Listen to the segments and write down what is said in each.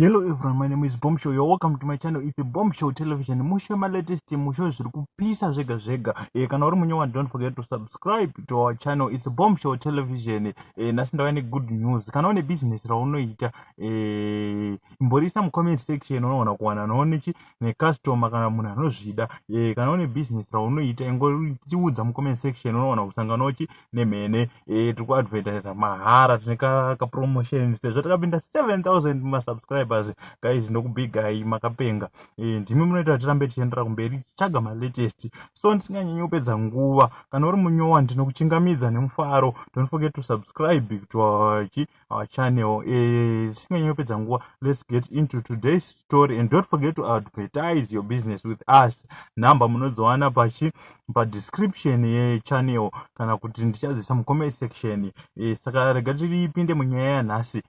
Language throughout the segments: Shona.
Hello everyone, my name is Bombshow. You're welcome to my channel. It's Bombshow Television. Mushe ma latest mushe zviri kupisa zvega zvega. Eh kana uri munyewa don't forget to subscribe to our channel. It's Bombshow Television. Eh nasi ndava ne good news. Kana une business raunoita eh imborisa mu comment section unoona kuwana noone chi ne customer kana munhu anozvida. Eh kana une business raunoita ingoriudza mu comment section unoona kusangana uchi nemhene eh, tiri kuadvertisa mahara tine kapromotion sezvo takapinda 7000 masubscribers guys ndokubigai makapenga eh, ndimi munoita kuti tirambe tichiendera kumberi tichitsvaga malatest so ndisinganyanyi kupedza nguva kana uri munyowa ndinokuchingamidza nemufaro don't forget to subscribe to our our channel eh, tisinganyi uh, kupedza nguva let's get into today's story and don't forget to advertise your business with us number munodziwana pachi padescription yechannel kana kuti ndichadzisa mucomment section eh, saka rega tiripinde munyaya yanhasi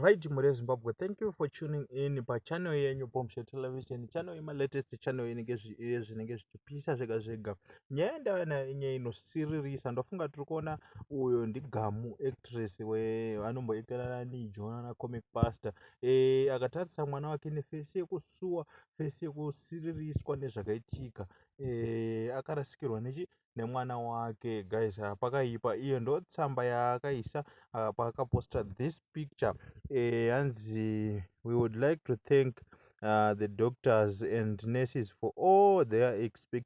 right mhuri yezimbabwe thank you for tuning in pachannel yenyu bombshe television channel yemalatest channel inenge zvinenge zvichipisa zvega zvega nyaya yandava nayo inyaya inosiririsa ndofunga tiri kuona uyo ndigamu actress weanomboitira nani jonana comic pastor e, akatarisa mwana wake nefesi yekusuwa fesi yekusiririswa nezvakaitika e, akarasikirwa nechi nemwana wake guys ah, pakaipa iyo ndo tsamba yaakaisa ah, paakaposta this picture eh, hanzi we would like to thank uh, the doctors and nurses for all their expect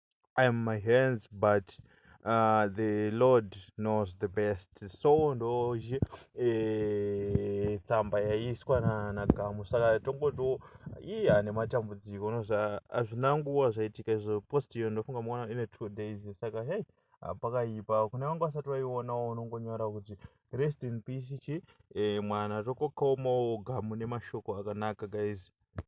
I am my hands but uh, the lord knows the best so ndozve eh, tsamba yaiswa na, na gamu saka tongotiwo iye ane matambudziko unoza hazvina nguva zvaitika izvo post iyo ndofunga maona ine two days saka hei ah, pakaipa kune vanga vasati vaionawo unongonyora kuti rest in peace chi eh, mwana tokokaomawo gamu nemashoko akanaka guys